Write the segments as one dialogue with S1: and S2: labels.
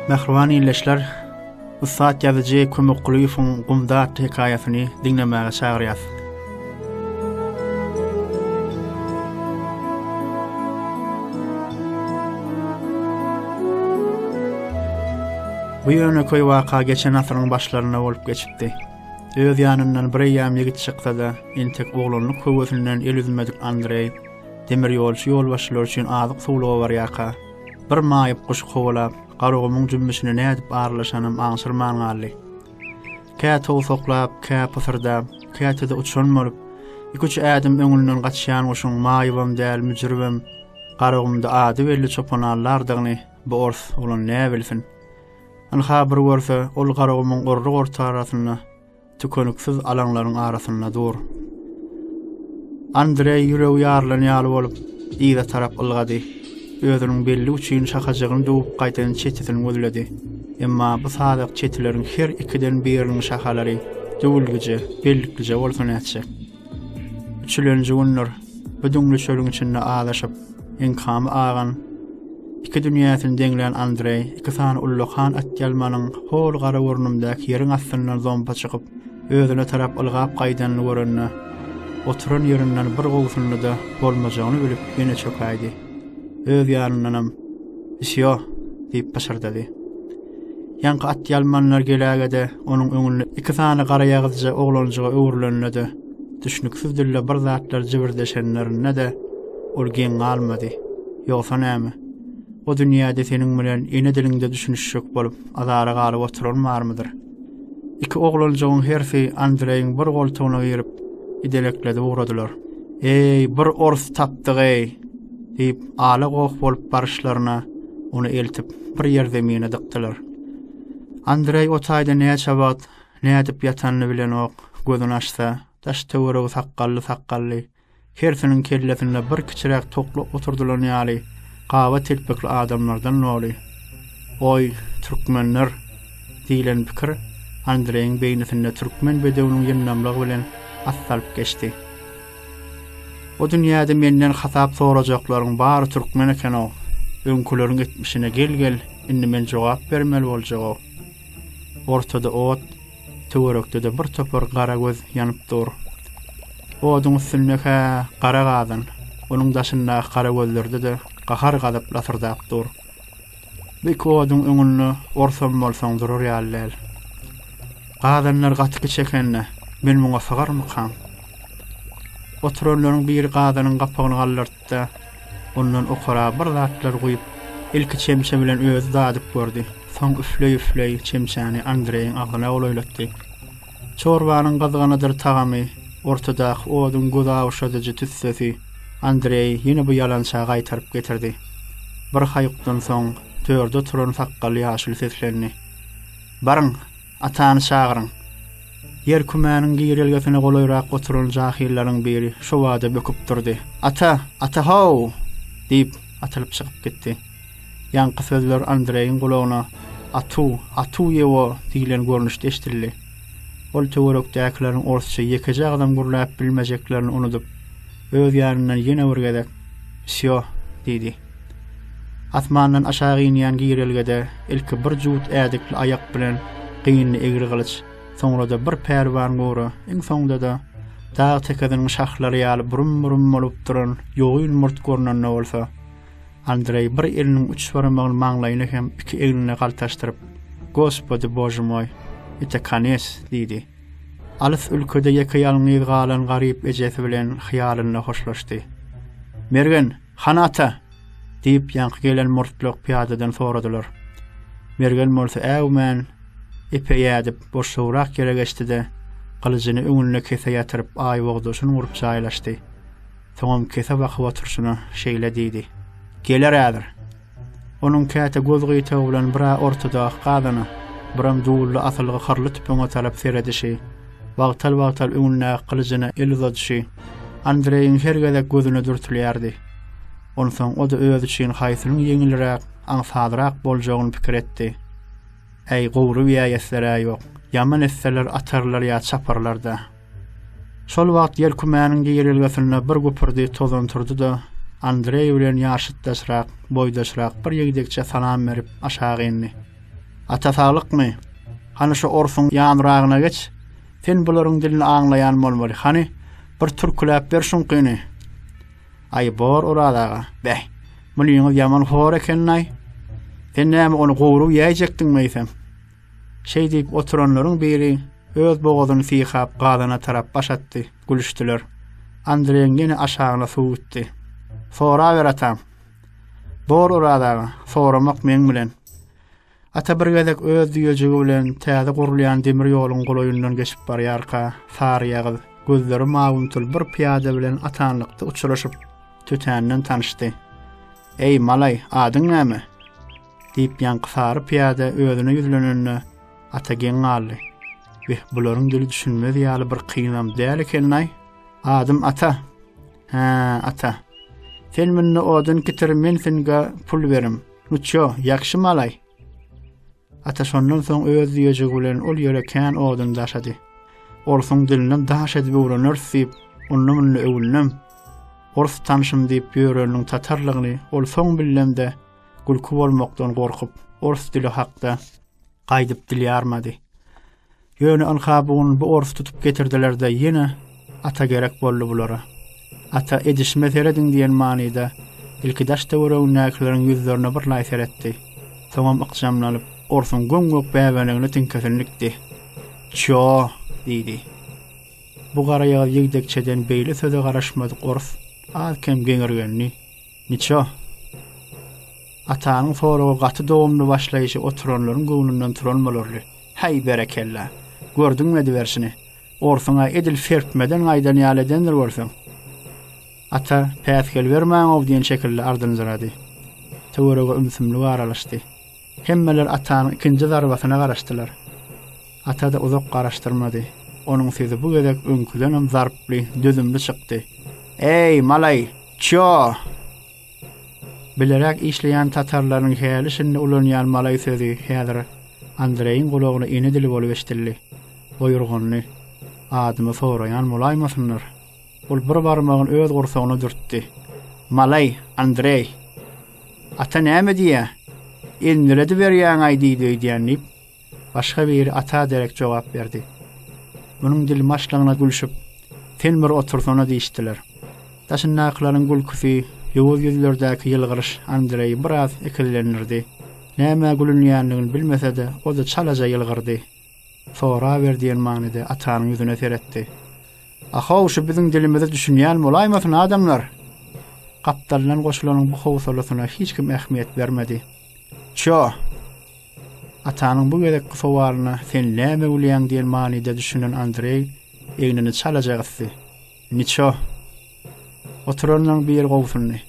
S1: Mähriban ildeşler, ussat ýazyjy Kömek Kulyýewiň Gumda atly hekaýasyny diňlemäge çagyrýas. Bu ýöne köý waka geçen asyryň başlarynda bolup geçipdi. Öz ýanyndan bir eýýäm ýigit çyksa-da, entek oglanlyk höwesinden el üzmedik Andreý, demirýolçy ýolbaşçylar üçin azyk-suwluga barýarka, bir maýyp guşy kowalap, Garagumuň jümmüşine nädip aralaşanam aňşyrman galdy. Kä towsaklap, kä pysyrdap, käte-de uçan bolup, iki-üç ädim öňünden gaçýan guşuň maýybam däl, müjüribem, Garagumda ady belli çopanallardygyny bu ors oglan näbilsin. Ynha, bir görse, ol Garagumuň orruk ortarasynda, tükeniksiz alaňlaryň arasynda dur. Andreý ýüregi ýarylan ýaly bolup, yza tarap ylgady. Özüniň belli üçin şahajygyny döwüp gaýdan çetisini gözledi. Emma bu sazak çetileriň her ikiden biriniň şahalary düwülgije, bellikgije bolsa nätjek? Üçülenji gündir bu düňli çölüň içinde azaşyp, enkamy agan, iki dünýäsini deňlän Andreý iki sany ullakan atýalmanyň hol gara gurnumdaky ýeriň astyndan zompa çykyp, özüne tarap ylgap gaýdanyny görende, oturan ýerinden bir gowsundy-da, bolmajagyny bilip, ýene çökäýdi. öz ýanyndanam, Wsýo! diýip pyşyrdady. Ýaňky atýalmanlar geläge-de, onuň öňünde iki sany garaýagyzja oglanjyga öwrülende-de, düşnüksiz dilde bir zatlar jibirdeşenlerinde-de, ol geň galmady. Ýogsa näme? O dünýäde seniň bilen ene diliňde düşünişjek bolup, azara galyp oturan barmydyr? Iki oglanjygyň hersi Andreýiň bir goltugyna girip, idelekledi ugradylar. Eý, bir ors tapdyk-eý! diýip, ala-goh bolup baryşlaryna, ony eltip, bir ýer zemine dykdylar. Andreý o taýda näçe wagt nädip ýatanyny bilenok, gözüni açsa, daş-töweregi sakgally-sakgally, Hersiniň kellesinde bir kiçiräk tokly oturdylan ýaly gaba telpekli adamlardan doly. Oý, türkmenler! diýlen pikir Andreýiň beýnisinde türkmen bedewiniň ýyndamlygy bilen atdalyp geçdi. Bu dünýäde menden hasap sorajaklaryň bary türkmen eken-ow. Öňküleriň etmişine gel-gel, indi men jogap bermeli boljag-ow. Ortada ot, Töwerekde-de bir topar gara göz ýanyp dur. Oduň üstünde hä, gara gazan, onuň daşyndaky gara gözlerde-de gahar-gazap lasyrdap dur. Bu iki oduň öňünde orsam bolsaň durar ýaly däl. Gazanlar gaty kiçi eken-de, men muňa sygarmykam? Oturanlaryň biri gazanyň gapagyny galdyrt. Hatda ondan okara bir zatlar guýup, ilki çemçe bilen özi dadyp gördi. Soň üfleý-üfleý çemçäni Andreýiň agzyna golaýlatdy. Çorbanyň gyzganadyr tagamy, ortadaky oduň göz awuşadyjy tüssesi Andreýi ýene bu ýalança gaýtaryp getirdi. Bir haýukdan soň törde oturan sakgally ýaşuly seslendi. Baryň, Atany çagyryň! Ýer kümäniň girelgesine golaýrak oturan jahyllaryň biri şo bada böküp durdy. Ata! Ata-how! diýip, atylyp çykyp gitdi. Ýaňky sözler Andreýiň gulagyna Atu! Atu ýewo! diýlen görnüşde eşidildi. Ol töwerekdäkileriň orsça ýekeje agzam gürläp bilmejeklerini unudyp, öz ýanyndan ýene bir gezek Wsýo! diýdi. Asmandan aşak inýän girelgede ilki bir jüwüt ädikli aýak bilen gynly egri gylyç, soňra-da bir pälwan gora, iň soňda-da dag tekiziniň şahlary ýaly burum-burum bolup duran ýogyn murt görnende bolsa, Andreý bir eliniň üç barmagyny maňlaýyna hem iki egnine galtaşdyryp, Gospodi Bože moj, ite kones! diýdi. Alys ülkede ýeke-ýalňyz galan garyp ejesi bilen hyýalynda hoşlaşdy. Mergen! Han ata! diýip, ýaňky gelen murtluk pyýadadan soradylar. Mergen bolsa äwmän, epe ýädip, boşlugrak ýere geçdi-de, gylyjyny öňünde kese ýatyryp, aýbogdaşyn gurup jaýlaşdy. Soňam kese bakyp oturşyna şeýle diýdi, Geler häzir. Onuň käte göz gyýtagy bilen bir-ä ortadaky gazana, biram duwully asylgy hyrly tüpeňe tarap seredişi, wagtal-wagtal öňündäki gylyjyna el uzadyşy Andreýiň her gezek gözüne dürtülýärdi. Onsoň o-da özi üçin haýsynyň ýeňilräk, aňsatrak boljagyny pikir etdi. Äý, gowruby-ýa etler-ä ýok. Ýaman etseler, atarlar ýa çaparlar-da. Şol wagt ýel kümäniň girelgesinde bir güpürdi tozan turdy-da, Andreý bilen ýaşytdaşrak, boýdaşrak bir ýigdekçe salam berip, aşak indi. Ata saglykmy? Hany şu orsuň ýanragyna geç. Sen bularyň dilini aňlaýan bolmaly. Hany, bir türküläp ber şuňkyny. Aý, bor, Oraz aga. Beh, munyňyz ýaman hor ekeni-aý. Sen näme ony gowrup ýäýjekdiňmi eýsem? Şeý diýip oturanlaryň biri öz bogazyny syýhap galana tarap baş atdy. Gülüşdiler. Andreýiň ýene aşagyna suw gitdi. Soraber atam. Bor Oraz aga, soramak meň bilen. Ata bir gezek öz düýejigi bilen täze gurulýan demir ýoluň golaýyndan geçip barýarka, saryýagyz, gözleri mawymtyl bir pyýada bilen atanlykda uçraşyp, tötänden tanyşdy. Eý, malaý, adyň näme? Diýip, ýaňky sary pyýada özüne ýüzlenende, Ata geň galdy. Beh, bularyň dili düşünmez ýaly bir kynam däl ekeni-aý. Adym Ata. Hä, Ata. Sen munda odun getir, men singa pul berim. Nuçjo, ýagşy malaý. Ata şondan soň öz düýejigi bilen ol ýere kän odun daşady. Orsuň dilini daş edip öwreners diýip, onda munda öwündim. Ors tanşym diýip ýöreniň tatarlygyny ol soň bildimde, Gülki bolmakdan gorkup, ors dili hakda gaýdyp dil ýarmady. Ýöne ynha bu gün bu ors tutup getirdiler-de ýene ata gerek boldy bulara. Ata edişime serediň diýen manyda ilki daş-töweregindäkileriň ýüzlerine birlaý seretdi. Soňam ykjamlanyp, orsuň göm-gök bäbenegine tiňkesini dikdi. Ço! diýdi. Bu garaýagyz ýigdekçeden beýle söze garaşmadyk ors az-kem geňirgendi. Niço? Atanyň soragy gaty dogumly başlaýşy oturanlaryň göwnünden turan bolarly. Häý, berekella! Gördüňmi ediberşini? Orsuň-a edil serpmeden gaýdan ýaly edendir görseň. Ata, päsgel bermäň-ow diýen şekilli ardynjyrady. Töwerege ümsümlik aralaşdy. Hemmeler Atanyň ikinji zarbasyna garaşdylar. Ata-da uzak garaşdyrmady. Onuň sesi bu gezek öňküdenem zarply, dözümli çykdy. Eý, malaý, çýo! Bileräk işleýän tatarlaryň häli-şindi ulanýan malaý sözi häzir Andreýiň gulagyna ene dili bolup eşidildi. Oýurganly, Adymy soraýan bolaýmasynlar? Ol bir barmagyny öz gursagyna dürtdi. Malaý, Andreý. Ata näme diýýä? Indelediberýäň-aý diýdi öýdýän diýip, başga biri ata derek jogap berdi. Munuň dilmaşlygyna gülşüp, Sen bir otursana diýişdiler. Daşyndakylaryň gülküsi, ýowuz ýüzlerdäki ýylgyryş Andreýi biraz ikizlendirdi. Nämä gülünýändigini bilmese-de, o-da çalaja ýylgyrdy. Soraber diýen manyda Atanyň ýüzüne seretdi. A-how, şu biziň dilimize düşünýän bolaýmasyn, adamlar? Gapdaldan goşulanyň bu howsalasyna hiç kim ähmiýet bermedi. Ço! Atanyň bu gezekki sowalyna sen näme bilýäň diýen manyda düşünen Andreý egnini çalaja gysdy. Niço! Oturanlaryň biri gobsundy.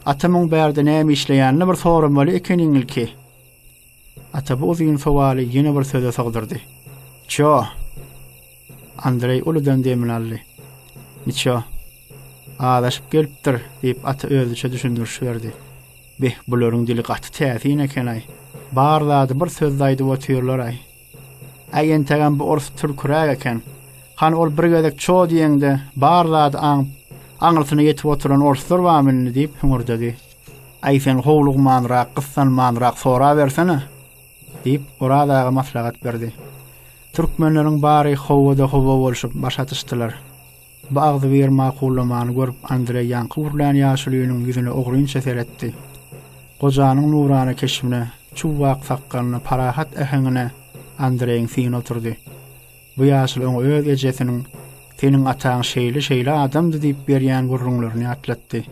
S1: Atamyň bärde näme işleýänini bir soramaly ekeniň ilki. Ata bu uzyn sowaly ýene bir söze sogdurdy. Ço! Andreý uludan demini aldy. Niço? Azaşyp gelipdir, diýip, ata özüçe düşündiriş berdi. Beh, bularyň dili gaty täsin eken-aý. Bar zady bir sözde aýdyp otyrlar-aý. Äý, entegem bu orus türküräk eken. Hany ol bir gezek ço diýeňde, bar zady aňyp, aňyrsyna ýetip oturan oruslar bamy indi? diýip hüňürdedi. Aý sen howlugmanrak, gyssanmanrak sorabersene! diýip, Oraz aga maslahat berdi. Türkmenleriň bary howada howa bolşup baş atyşdylar. Bu agzybir makullamany görüp Andreý ýaňky gürlän ýaşulynyň ýüzüne ogrynça seretdi. Gojanyň nurana keşbine, çuwwak sakgalyna, parahat äheňine Andreýiň syny oturdy. Bu ýaşuly oňa öz ejesiniň Seniň ataň şeýle-şeýle adamdy diýip berýän gürrüňlerini ýatlatdy.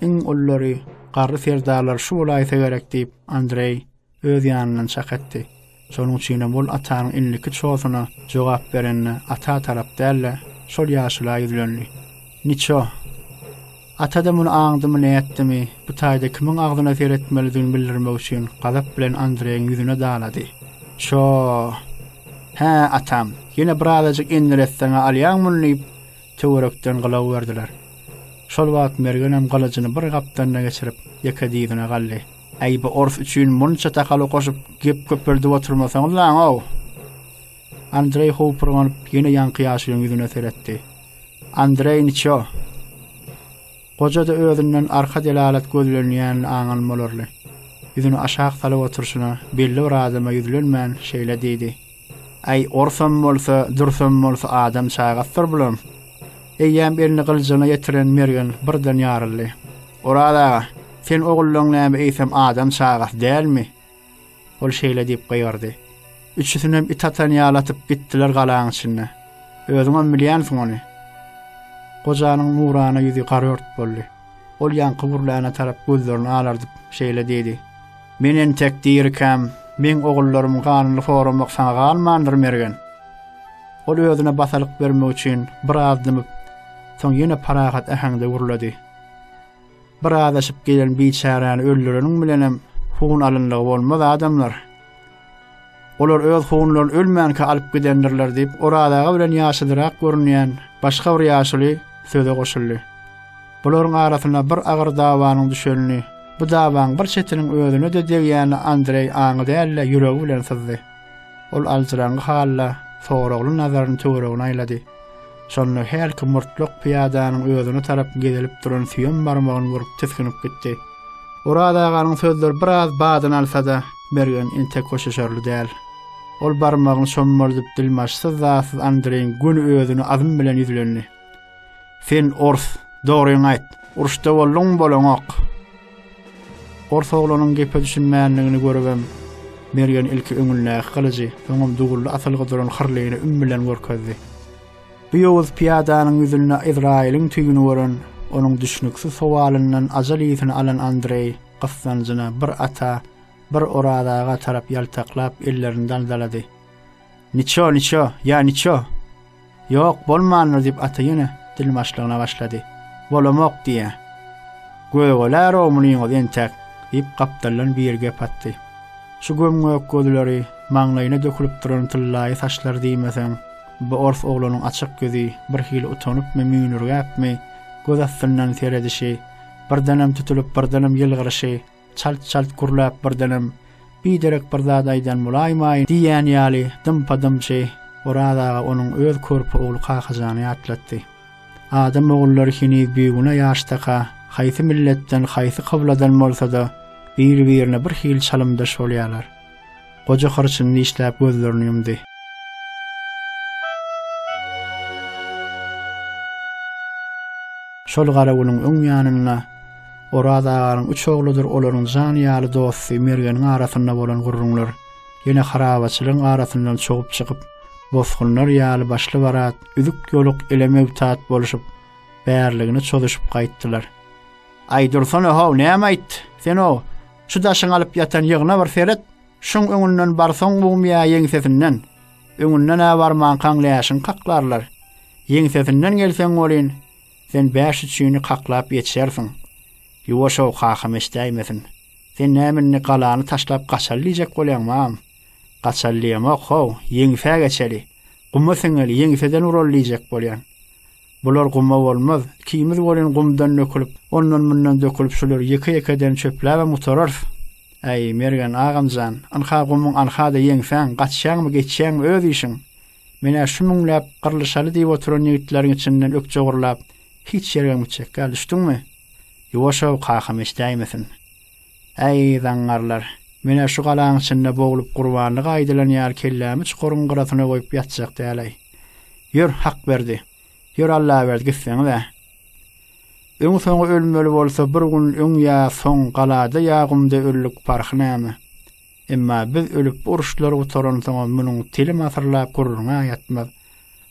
S1: Iň ullary, garry serdarlar şu bolaýsa gerek diýip, Andreý öz ýanyndan çak etdi. Şonuň üçinem ol Atanyň indiki çosyna jogap berende Ata tarap däl-de, şol ýaşula ýüzlendi. Niço! Ata-da muny aňdymy nätdimi, bu taýda kimiň agzyna seretmelidigini bildirmek üçin gazap bilen Andreýiň ýüzüne dalady. Ço-o! Hä, atam, ýene birazajyk endiretseň-ä alýaň muny diýip, töwerekden gylaw berdiler. Şol wagt Mergenem gylyjyny bir gapdanyna geçirip, ýeke dyzyna galdy. Äý, bu ors üçin munça takalyk goşup, gep köpeldip oturmasaňyzlaň-ow! Andreý howpurganyp, ýene ýaňky ýaşulyň ýüzüne seretdi. Andreý niço? Goja-da özünden arka delalat gözlenýänini aňan bolarly, ýüzüni aşak salyp oturyşyna, belli bir adama ýüzlenmän, şeýle diýdi. Äý, orsam bolsa, dürsem bolsa adam çagasydyr bularyň. Eýýäm elini gyljygyna ýetiren Mergen birden ýaryldy. Oraz aga, sen ogullaň näme eýsem adam çagasy dälmi? Ol şeýle diýip gygyrdy. Üçüsinem it atan ýaly atyp gitdiler galaň içinde. Özüňem bilýänsiň ony. Gojanyň nurana ýüzi garört boldy. Ol ýaňky gürläne tarap gözlerini alardyp, şeýle diýdi, Men entek dirikäm, meň ogullarymyň ganyny soramak saňa galmandyr, Mergen. Ol özüne basalyk bermek üçin biraz dymyp, soň ýene parahat äheňde gürledi, Bir azaşyp gelen biçäräni öldüreniň bilenem hun alynlygy bolmaz, adamlar! Olar öz hunlaryny ölmänkä alyp gidendirler diýip, Oraz aga bilen ýaşulyrak görünýän başga bir ýaşuly söze goşuldy. Bularyň arasyna bir agyr dawanyň düşenini, bu dawaň bir çetiniň özüne-de degýänini Andreý aňy däl-de, ýüregi bilen syzdy. Ol aljyraňňy halda soragly nazaryny töweregine aýlady. Şonda hälki murtluk pyýadanyň özüne tarap gezilip duran süýem barmagyny görüp tisginip gitdi. Oraz aganyň sözleri biraz badyny alsa-da, Mergen entek hoşlaşarly däl. Ol barmagyny şommaldyp dilmaçsyz-zasyz Andreýiň göni özüne azm bilen ýüzlendi. Sen ors, dogryňy aýt, uruşda bolduňmy-bolaňok? Ors oglanyň gepe düşünmändigini görübem, Mergen ilki öňündäki gylyjy, soňam dugully asylgy duran hyrlyny üm bilen görkezdi. Bu ýowuz pyýadanyň ýüzünde Ezraýylyň tüýüni gören, onuň düşnüksiz sowalyndan ajal ysy alan Andreý gyssanjyna bir ata, bir Oraz aga tarap ýaltaklap, ellerini daldalady. Niço, niço, ýa niço? Ýok, bolmandyr, diýip, ata ýene dilbaşlygyna başlady. Bolamok diýýä. Gögälärow munyňyzy entek, diýip, gapdaldan biri gep atdy. Şu göm-gök gözleri, maňlaýyna dökülip duran tyllaýy saçlary diýmeseň, bu ors oglanyň açyk ýüzi, birhili utanypmy, müýnürgäpmi, göz astyndan seredişi, birdenem tutulyp, birdenem ýylgyryşy, Çalt-çalt gürläp birdenem, Biderek bir zat aýdan bolaýmaýyn diýýän ýaly dympa-dymçy Oraz aga onuň öz körpe ogly Kakajany ýatlatdy. Adam ogullary heniz bigünä ýaşdaka, haýsy milletden, haýsy kybladan bolsa-da, biri-birine birhili çalymdaş bolýarlar. Goja hyrçyny dişläp gözlerini ýumdy. Şol gara günüň öň ýanynda Oraz aganyň üç ogludyr olaryň jan ýaly dosty Mergeniň arasynda bolan gürrüňler ýene harabaçylygyň arasyndan çogup çykyp, bosgunlar ýaly başly-barat, üzük-ýoluk ele möwtat bolşup, bärligine çozuşyp gaýtdylar. Aýdursana-how, näme aýtdy? Sen-ow, Şu daşyň alyp ýatan ýygyna bir seret, şuň öňünden barsoň mum ýa ýeňsesinden, öňünden-ä barmankaň läşiňi kaklarlar. Ýeňsesinden gelseň welin, sen bäş üçini kaklap ýetişersiň. Ýuwaş-ow, kakam eşidäýmesin. Sen näme indi galany taşlap gaçaly diýjek bolýaňmam? Gaçaly diýemok, how, ýeňsä geçeli. Guma siňeli, ýeňseden uraly diýjek bolýan. Bular guma bolmaz. Ikimiz welin gumdan dökülip, ondan-mundan dökülip şulary ýeke-ýekeden çöpläbem gutararys. Äý, Mergen agam jan, ynha gumuň alha-da ýeňsäň, gaçýaňmy, geçýäňmi, öz işiň. Men-ä şu müňläp gyrlyşaly diýip oturan ýigitleriň içinden ökje gurlap, hiç ýergem gitjek däl, düşdüňmi? Ýuwaş-ow, kakam eşidäýmesin. Äý, zaňňarlar! Men-ä şu galaň içinde boglup gurbanlyga aýdylan ýaly kellämi çukuryň gyrasyna goýup ýatjak däl-äý. Ýör, Hakberdi! Ýör, Allaberdi, gitseňiz-ä! Öňi-soňy ölmeli bolsa, bir gün öň ýa soň galada ýa gumda ölülik parhy näme? Emma biz ölüp bu uruşlar gutaransoňam munuň telim asyrlap gürrüňi-ä ýatmaz.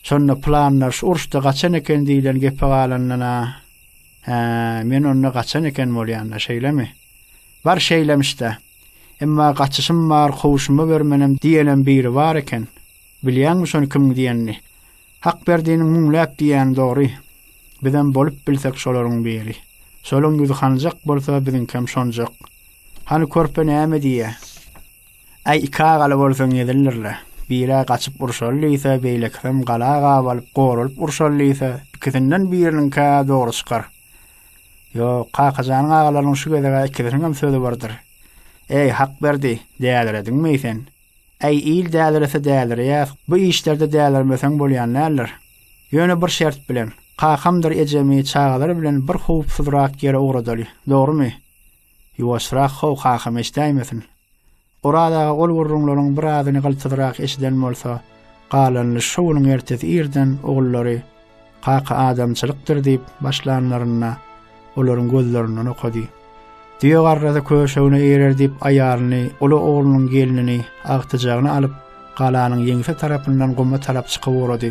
S1: Şonda pylanlar şu uruşda gaçan eken diýlen gepe galandan-a Hä, men onda gaçan eken bolýan-da, şeýlemi? Bar şeýlemiş-dä. Emma gaçyşym bar, kowuşyma bermenem diýenem biri bar eken. Bilýäňmi şony kim diýenini? Hakberdiniň müňläp diýýäni dogry. Bizem bolup bilsek şolaryň biri. Şolaň ýüzi hanjak bolsa biziňkem şonjak. Hany körpe näme diýýä? Äý, iki agaly bolsaň gezildirle. Biri-ä gaçyp urşaly diýse, beýlekisem gala gabalyp, goralyp urşaly diýse, ikisinden biriniňki-ä dogry çykar. Ýok, Kakajanyň agalarynyň şu gezek-ä ikisiniňem sözi birdir. Äý, Hakberdi, dälirediňmi-eý sen? Äý, il dälirese dälireýär, bu işlerde dälirmeseň bolýan däldir. Ýöne bir şert bilen, kakamdyr ejemi çagalary bilen bir howpsuzrak ýere ugradaly, dogrumy? Ýuwaşrak how kakam eşdäýmesin. Oraz aga ol gürrüňleriň birazyny gyltydyrak eşiden bolsa, galanyny şo günüň ertesi irden ogullary Kaka adamçylykdyr diýip başlanlarynda olaryň gözlerinden okady. Düýe garrasy köşegine eýerer diýip aýalyny, uly oglunyň gelnini, agtyjagyny alyp, galanyň ýeňse tarapyndan guma tarap çykyp ugrady.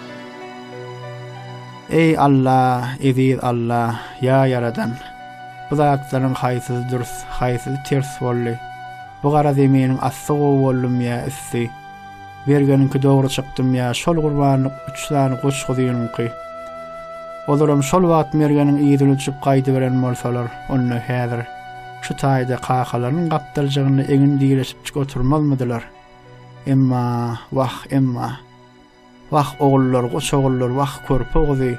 S1: Eý Alla, eziz Alla, ýa Ýaradan! Bu zatlaryň haýsysy dürs, haýsysy ters boldy? Bu gara zeminiň asty gowy boldumy ýa üsti? Bergeniňki dogry çykdymy ýa şol gurbanlyk üç sany goç-guzynyňky? Olaram şol wagt mergeniň yzyny uçup gaýdyberen bolsalar, onda häzir şu taýda kakalarynyň gapdaljygynda egin direşipjik oturmazmydylar? Emma, wah, emma! Wah, ogullar, goç ogullar, wah, körpe oguzy,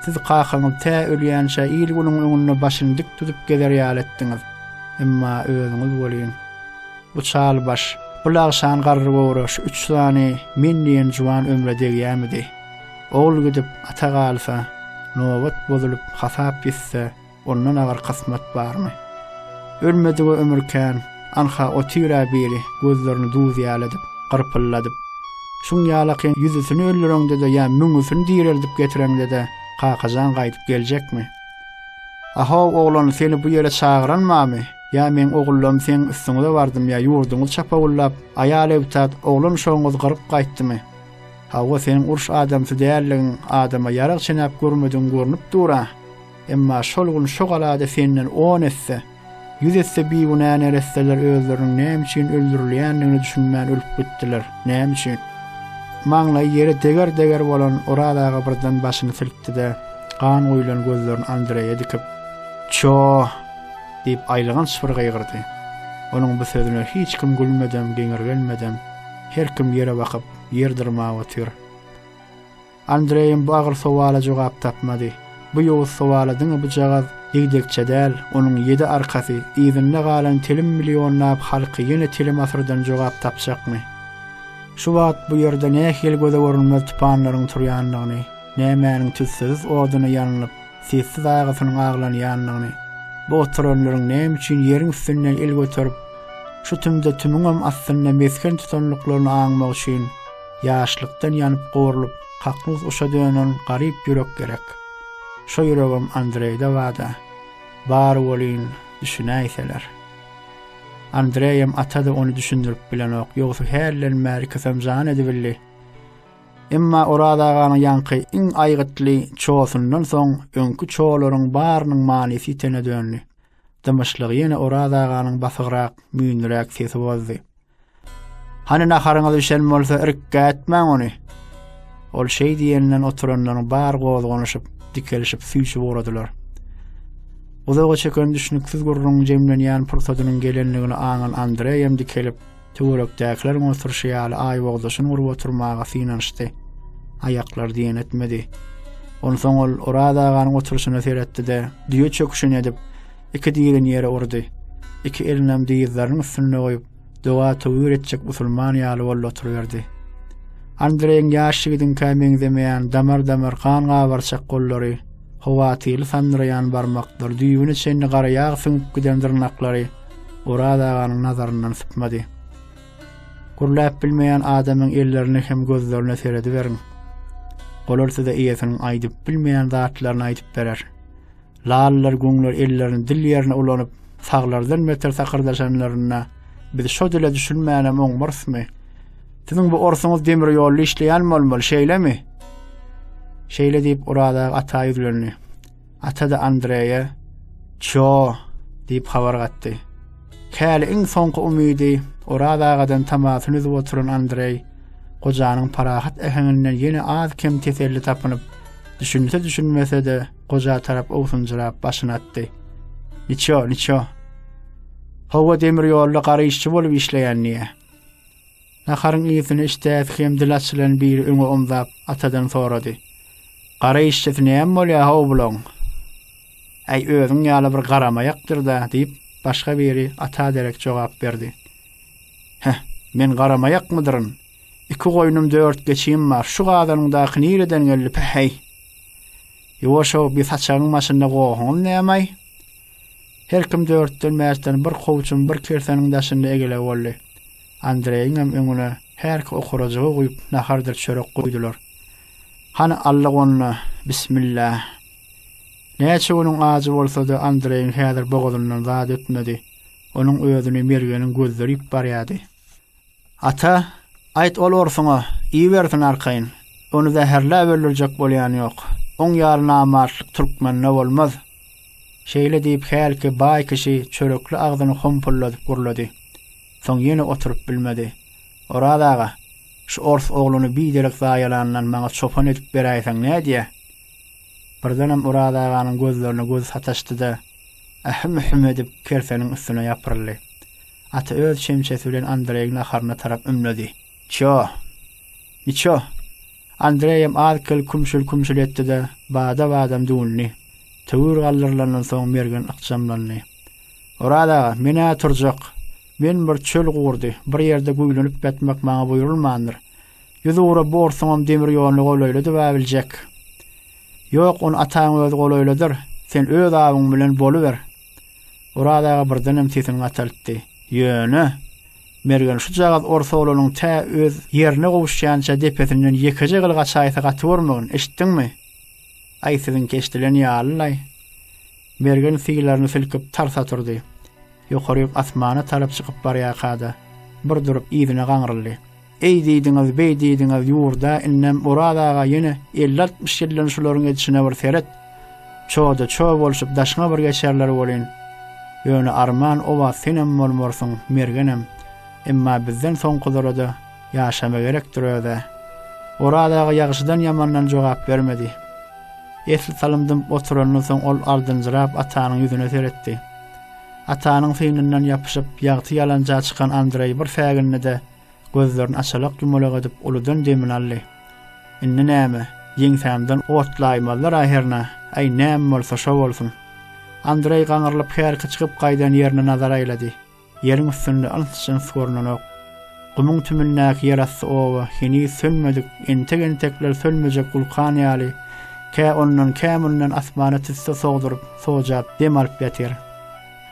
S1: siz kakaňyz tä ölýänçä il-günüň öňünde başyny dik tutup gezer ýaly etdiňiz. Emma özüňiz welin, bu çal baş, bu lagşan garry göwre şu üç sany men diýen juwan ömre degýämidi? Ogul gidip, ata galsa, nobat bozulyp, hasap ýitse, Ondan agyr kysmat barmy? Ölmedige ömür kän, anha otyr-ä biri gözlerini duz ýaly edip, gyrpylladyp. Şuň ýalaky ýüzüsini öldüreňde-de ýa müňüsini direldip getireňde-de Kakajan gaýdyp geljekmi? A-how, oglan, seni bu ýere çagyran bamy? Ýa meň ogullarym seň üstüňize bardym ýa ýurduňyzy çapawullap, aýal ebtat, oglan uşagyňyzy gyryp gaýtdymy? Hawa, seniň uruş adamsy däldigiň, adama ýarag çenäp görmedigiň görnüp dur-a! Emma şol gün şo galada senden on esse, ýüz esse bigünä neresseler özleriniň näme üçin öldürilýändigine düşünmän ölüp gitdiler. Näme üçin? Maňlaýy ýere deger-deger bolan Oraz aga birden başyny silkdi-de, gan guýlan gözlerini Andreýe dikip, Ço! diýip aýylganç bir gygyrdy. Onuň bu sözüne hiç kim gülmedem, geňirgenmedem, her kim ýere bakyp, ýer dyrmap otyr. Andreýem bu agyr sowala jogap tapmady. Bu ýowuz sowala diňe bujagaz ýigdekçe däl, onuň ýedi arkasy, yzynda galan telim millionlap halky ýene telim asyrdan jogap tapjakmy? Şu wagt bu ýerde nähili göze görünmez tupanlaryň turýandygyny, nämäniň tüssesiz oduna ýanylyp, sessiz agysynyň aglanýandygyny, bu oturanlaryň näme üçin ýeriň üstünden el göterip, şu tümde tümiňem astynda mesgen tutandyklaryny aňmak üçin, Ýaşlykdan ýanyp gowrulyp, kaknus guşa dönen garyp ýürek gerek. Şo ýüregem Andreýde bada. Bar welin, düşünäýseler. Andreýem, ata-da ony düşündirip bilenok, ýogsa hälden bäri kysam jan edibildi. Emma Oraz aganyň ýaňky iň aýgytly çosundan soň öňki çolaryň barynyň manysy ýitene döndi. Dymyşlygy ýene Oraz aganyň basygrak, müýnliräk sesi bozdy. Hany naharyňyz bişen bolsa irkgätmäň ony. Ol şeý diýenden oturanlaryň bar gozganyşyp, dikelişip süýşüp ugradylar. Uzaga çeken düşüniksiz gürrüň jemlenýän pursadynyň gelenligini aňan Andreý hem dikelip, töwerekdäkileriň oturyşy ýaly aýbogdaşyny urup oturmaga synanyşdy. Aýaklary diýen etmedi. Onsoň ol Oraz aganyň oturyşyna seretdi-de, düýe çöküşini edip, iki dirini ýere urdy. Iki elinem dyzlarynyň üstünde goýup, doga töwir etjek musulman ýaly boldy oturyberdi. Andreýiň ýaş ýigidiňkä meňzemeýän damar-damar gan gabarçak gollary, howatyrly sandyraýan barmaklary, düýbüne çenli gara ýag süňüp giden dyrnaklary Oraz aganyň nazaryndan sypmady. Gürläp bilmeýän adamyň ellerine hem gözlerine serediberiň. Olar size eýesiniň aýdyp bilmeýän zatlaryny aýdyp berer. Lalylar, güňler ellerini dil ýerine ulanyp, saglardan beter sakyrdaşanlarynda, Biz şo dile düşünmänem oňmarsmy? Siziň bu orsuňyz demir ýolda işleýän bolmaly, şeýlemi? Şeýle diýip, Oraz aga ata ýüzlendi. Ata-da Andreýe, Ço! diýip habar gatdy. Käli iň soňky umydy Oraz agadan tamasyny üzüp oturan Andreý, gojanyň parahat äheňinden ýene az-kem teselli tapynyp, düşünse-düşünmese-de, goja tarap owsunjyrap başyny atdy. Niço, niço. Hawa demir ýolda gara işçi bolup işleýän niýe? Naharyň ýüzüne işdäsi hem dil açylan biri öňe omzap atadan sorady. Gara işçisi näme bolýar haw bulaň? Äý özüň ýaly bir garamaýakdyr-da diýip başga biri ata derek jogap berdi. Heh, men garamaýakmydyryn? Iki goýnum dört geçim bar. Şu gazanyňdaky nireden geldi päheý? Ýuwaş-ow, bi saçagyň başynda gohuňam nämaý? Her kim dörtden-bäşden bir kowçuň, bir kirseniň daşynda egele boldy. Andreýiňem öňüne härki okurajygy guýup, nahardyr çörek guýdular. Hany, Allagonda, bismilla! Näçe günüň ajy bolsa-da, Andreýiň häzir bogazyndan zat ötmedi. Onuň özüni Mergeniň gözleri ýyp barýardy. Ata, aýt ol orsuňa, iýibersin arkaýyn. Ony zäherläp öldürjek bolýan ýok. Oň ýaly namartlyk türkmende bolmaz. Şeýle diýip, hälki baý kişi çörekli agzyny hompalladyp gurlady. Soň ýene oturyp bilmedi. Oraz aga, şu ors ogluny biderek zaýalandan maňa çopan edip beräýseň nädýä? Birdenem Oraz aganyň gözlerine gözi sataşdy-da, ähim-ühüm edip kerseniň üstüne ýapyryldy. Ata öz çemçesi bilen Andreýiň naharyna tarap ümledi. Çjo! Niçjo! Andreýem az-kel kümşül-kümşül etdi-de, bada-badam düwündi. Töwir galdyrylandan soň Mergen ykjamlandy. Oraz aga, men-ä turjak. Men bir çöl gurdy, bir ýerde güýlenip ýatmak maňa buýrulmandyr. Ýüz ugra bu orsuňam demir ýoluny golaýladyb-ä biljek. Ýok, ony ataň özi golaýladar, sen öz awyň bilen boluber. Oraz aga birdenem sesini gataltdy. Ýöne, Mergen şujagaz ors oglanyň tä öz ýerine gowuşýança depesinden ýekeje gylyk açaýsa gatybormagyn, eşitdiňmi? Aý, siziňki eşidilen ýaly-laý. Mergen syýlaryny silkip, tars oturdy. Ýokaryk asmana tarap çykyp barýarka-da, bir durup, yzyna gaňryldy. Eý diýdiňiz, beý diýdiňiz ýurda, indem Oraz aga ýene elli-altmyş ýyldan şularyň edişine bir seret. Çoda-ço bolşup daşyňa bir geçerler welin. Ýöne arman oba senem bolmarsyň, Mergenem. Emma bizden soňkulara-da ýaşama gerekdir öz-ä. Oraz aga ýagşydan-ýamandan jogap bermedi. Esli salym dymyp oturandan soň ol ardynjyrap Atanyň ýüzüne seretdi. Atanyň synyndan ýapyşyp, ýagty ýalanja çykan Andreý bir sägindi-de, Gözlerini açalak-ýumalak edip uludan demini aldy. Indi näme, ýeňsämden otlaýmazlar-a hernä, äý, näme bolsa, şo bolsun. Andreý gaňrylyp härki çykyp gaýdan ýerine nazar aýlady. Ýeriň üstünde yns-jyns görnenok. Gumuň tümündäki ýerasty oba heniz sönmedik, entek-entekler sönmejek wulkan ýaly, kä ondan, kä mundan asmana tüsse sogduryp, sojap dem alyp ýatyr.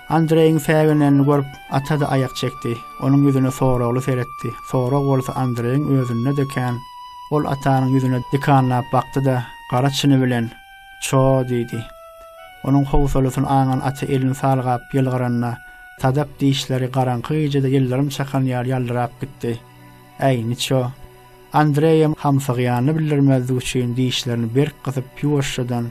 S1: Andreýiň säginenini görüp, ata-da aýak çekdi. Onuň ýüzüne soragly seretdi. Sorag bolsa Andreýiň özünde-de kän. Ol atanyň ýüzüne dikanlap bakdy-da, gara çyny bilen, Ço! diýdi. Onuň howsalasyny aňan ata elini salgap ýylgyranda, sadap dişleri garaňky gijede ýyldyrym çakan ýaly ýaldyrap gitdi. Äý, niço! Andreýem hamsygýanyny bildirmezlik üçin dişlerini berk gysyp, ýuwaşjadan,